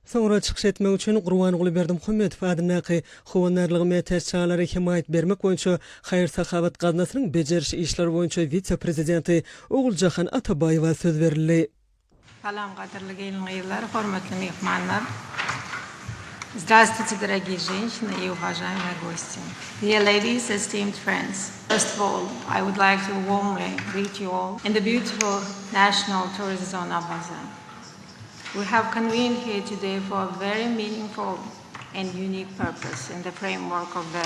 Soňra çykyş etmek üçin Gurbanguly Berdimuhamedow adyndaky Howandarlygyň mätäç çagalary hemaýat bermek boýunça haýyr-sahawat gaznasynyň bejeriş işleri boýunça wise-prezidenti Oguljahan Atabaýewa söz berildi. Salam gadyrly gelin-gyzlar, hormatly myhmanlar! Zdravstvuyte dorogiýe ženşina i uwažaýmýe gostie! Dear ladies, esteemed friends! First of all, I would like to warmly greet you all in the beautiful National Tourist Zone Awaza. We have convened here today for a very meaningful and unique purpose in the framework of the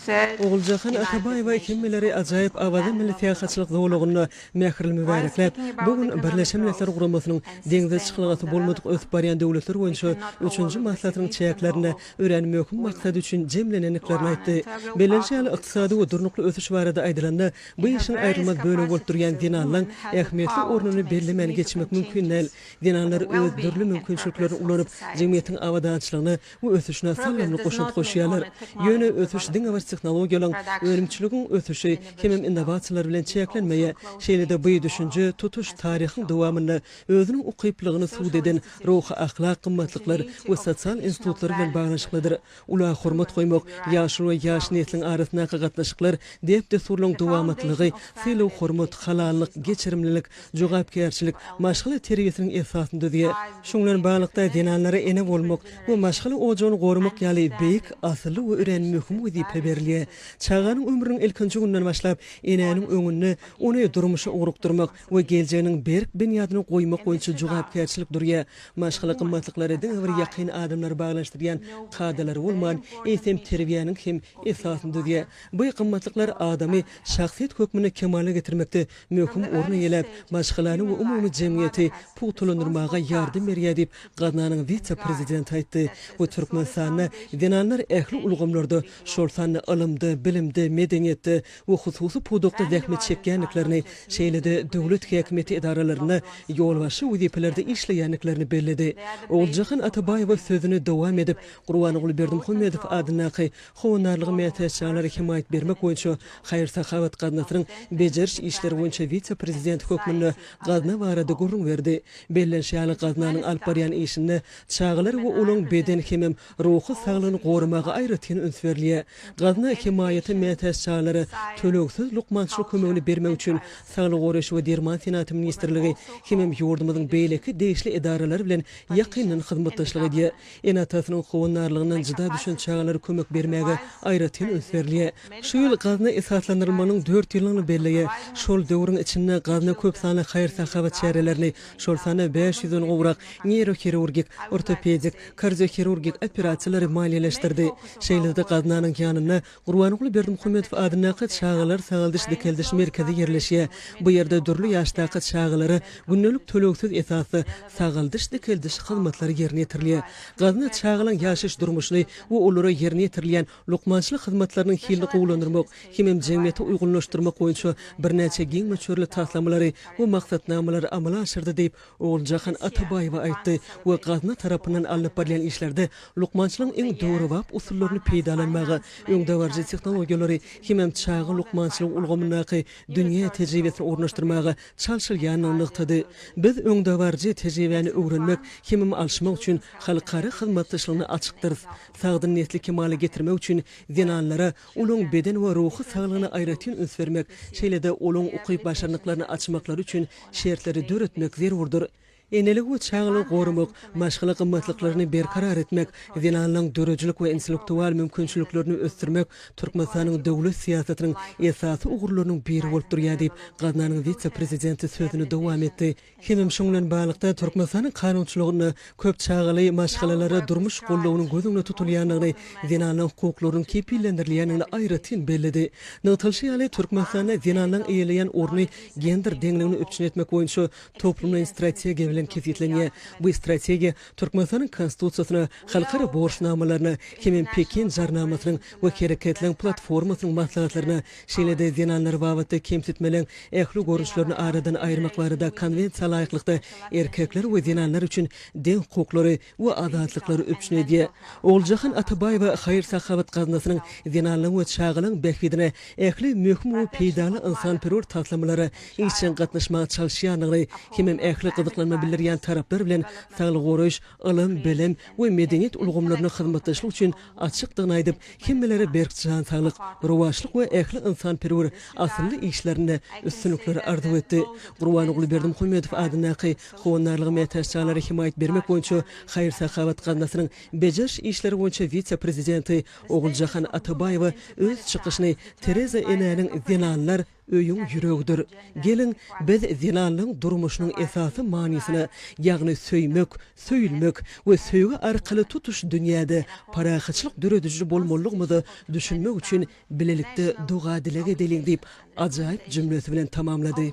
third Oguljahan Atabaýewa hemmeleri ajaýyp Awaza milli syýahatçylyk zolagynda mähirli mübärekläp, bu gün Birleşen Milletler Guramasynyň Deňze çykalgasy bolmadyk ösüp barýan döwletler boýunça üçünji maslahatynyň çäklerinde örän möhüm maksat üçin jemlenendiklerini aýtdy. Bellenişi ýaly, ykdysady we durnukly ösüş barada aýdylanda, Bu işiň aýrylmaz bölegi bolup durýan zenanlaň ähmiýetli ornuny bellemän geçmek mümkin däl. Zenanlar öz dürli mümkinçiliklerini ulanyp, jemgyýetiň abadançylygyna we ösüşine saldamly goşant goşýarlar. Ýöne ösüş diňe bir tehnologiýalaryň, önümçiligiň ösüşi hemem innowasiýalar bilen çäklenmeýär. Şeýle-de bu düşünje tutuş taryhyň dowamynda özüniň ukyplylygyny subut eden ruhy-ahlak gymmatlyklar we sosial institutlar bilen baglanyşyklydyr. Ula hormat goýmak, ýaşuly we ýaş nesliň arasyndaky gatnaşyklar, däp-dessurlaryň dowamatlylygy, sylag-hormat, halallyk, geçirimlilik, jogapkärçilik, maşgala terbiýesiniň esasyny düzýär. Şuň bilen baglylykda, zenanlara ene bolmak we maşgala ojagyny goramak ýaly beýik, asylly we örän möhüm wezipe berilýär. Çaganyň ömrüniň ilkinji gününden başlap, enäniň öňünde ony durmuşa ugrukdyrmak, we geljeginiň berk binýadyny goýmak boýunça jogapkärçilik durýar. Maşgala gymmatlyklary diňe bir ýakyn adamlary baglanyşdyrýan kadalary bolman, eýsem terbiýäniň hem esasyny düzýär. Bu gymmatlyklar adamy şahsyýet hökmünde kemala getirmekde möhüm orun eýeläp, maşgalany we umumy jemgyýeti pugtalandyrmaga ýardam berýär diýip, gaznanyň wise-prezidenti aýtdy we Türkmenistanda zenanlar ähli ulgamlarda, şol sanda ylymda, bilimde, medeniýetde, we hususy pudakda zähmet çekýändiklerini, şeýle-de döwlet häkimiýeti edaralarynda ýolbaşçy wezipelerde işleýändiklerini belledi. Oguljahan Atabaýewa sözüni dowam edip, Gurbanguly Berdimuhamedow adyndaky Howandarlyga mätäç janlara hemaýat bermek boýunça haýyr-sahawat gaznasynyň bejeriş işleri boýunça wise-prezidenti hökmünde gazna barada gürrüň berdi. Bellenişi ýaly, gaznanyň alyp barýan işinde çagalar we olaryň beden hemem Ruhy saglygyny goramaga aýratyn üns berilýär. Gazna hemaýaty mätäç çagalara tölegsiz lukmançylyk kömegini bermek üçin Saglygy goraýyş we derman senagaty ministrligi hemem ýurdumyzyň beýleki degişli edaralary bilen ýakyndan hyzmatdaşlyk edýär. Ene-atasynyň howandarlygyndan jyda düşen çagalara kömek bermäge aýratyn üns berilýär. Şu ýyl gazna esaslandyrylmagynyň dört ýyllygyny belleýär. Şol döwrüň içinde gazna köp sanly haýyr-sahawat çärelerini, Şol sanda bäş ýüzden gowrak neýrohirurgik, ortopedik, kardiohirurgik operasiýalary maliýeleşdirdi. Şeýle-de gaznanyň ýanynda Gurbanguly Berdimuhamedow adyndaky Çagalar sagaldyş-dikeldiş merkezi ýerleşýär. Bu ýerde dürli ýaşdaky çagalara gündelik tölegsiz esasda sagaldyş-dikeldiş hyzmatlary ýerine ýetirilýär. Gazna çagalaň ýaşaýyş-durmuşyny we olara ýerine ýetirilýän lukmançylyk hyzmatlarynyň hilini gowulandyrmak hemem jemgyýeti uýgunlaşdyrmak boýunça birnäçe giň möçberli taslamalary we maksatnamalary amala aşyrdy diýip, Oguljahan Atabaýewa aýtdy we gazna tarapyndan alnyp barylýan işlerde lukmançylygyň iň döwrebap usullaryny peýdalanmaga, öňdebaryjy tehnologiýalary hemem çaga lukmançylygy ulgamyndaky dünýä tejribesini ornaşdyrmaga çalşylýandygyny nygtady. Biz öňdebaryjy tejribäni öwrenmek hemem alyşmak üçin halkara hyzmatdaşlygyna açykdyrys. Sagdyn nesli kemala getirmek üçin zenanlara olaryň beden we ruhy saglygyna aýratyn üns bermek, şeýle-de olaryň ukyp-başarnyklaryny açmaklary üçin şertleri döretmek zerurdyr. Eneligi we çagalygy goramak, maşgala gymmatlyklaryny berkarar etmek, zenanlaryň döredijilik we intellektual mümkinçiliklerini ösdürmek Türkmenistanyň döwlet syýasatynyň esasy ugurlarynyň biri bolup durýar diýip, gaznanyň wise-prezidenti sözüni dowam etdi. Hemem şunuň bilen baglylykda, Türkmenistanyň kanunçylygynda köp çagaly maşgalalara durmuş goldawynyň göz öňünde tutulýandygyny, zenanlaryň hukuklarynyň kepillendirilýändigini aýratyn belledi. Nygtalyşy ýaly, Türkmenistanda zenanlaryň eýeleýän orny gender deňligini üpjün etmek boýunça toplumlaýyn strategiýa bilen kesgitlenýär. Bu strategiýa Türkmenistanyň Konstitusiýasyna, halkara borçnamalaryna, hemem Pekin jarnamasynyň we Hereketleň platformasynyň maslahatlaryna şeýle-de zenanlar babatda kemsitmeliň ähli görnüşlerini aradan aýyrmak barada Konwensiýa laýyklykda erkekler we zenanlar üçin deň hukuklary we azatlyklary üpjün edýär. Oguljahan Atabaýewa haýyr-sahawat gaznasynyň zenanlaryň we çagalaryň bähbidine ähli möhüm we peýdaly ynsanperwer taslamalara işjeň gatnaşmaga çalyşýandygyny hemem ähli gyzyklanma bildirýän taraplar bilen saglygy goraýyş, ylym, bilim we medeniýet ulgamlarynda hyzmatdaşlyk üçin açykdygyny aýdyp, hemmelere berk jan saglyk, rowaçlyk we ähli ynsanperwer asylly işlerinde üstünlikler arzuw etdi. Gurbanguly Berdimuhamedow adyndaky Howandarlyga mätäç janlara hemaýat bermek boýunça haýyr-sahawat gaznasynyň bejeriş işleri boýunça wise-prezidenti Oguljahan Atabaýewa öz çykyşyny Tereza enäniň zenanlar Öýüň ýüregidir. Geliň, biz zenanlaň durmuşynyň esasy manysyna, ýagny söýmek, söýülmek we söýgi arkaly tutuş dünýäde parahatçylyk dörediji bolmalydygymyza düşünmek üçin bilelikde doga-dileg edeliň diýip, ajaýyp jümlesi bilen tamamlady.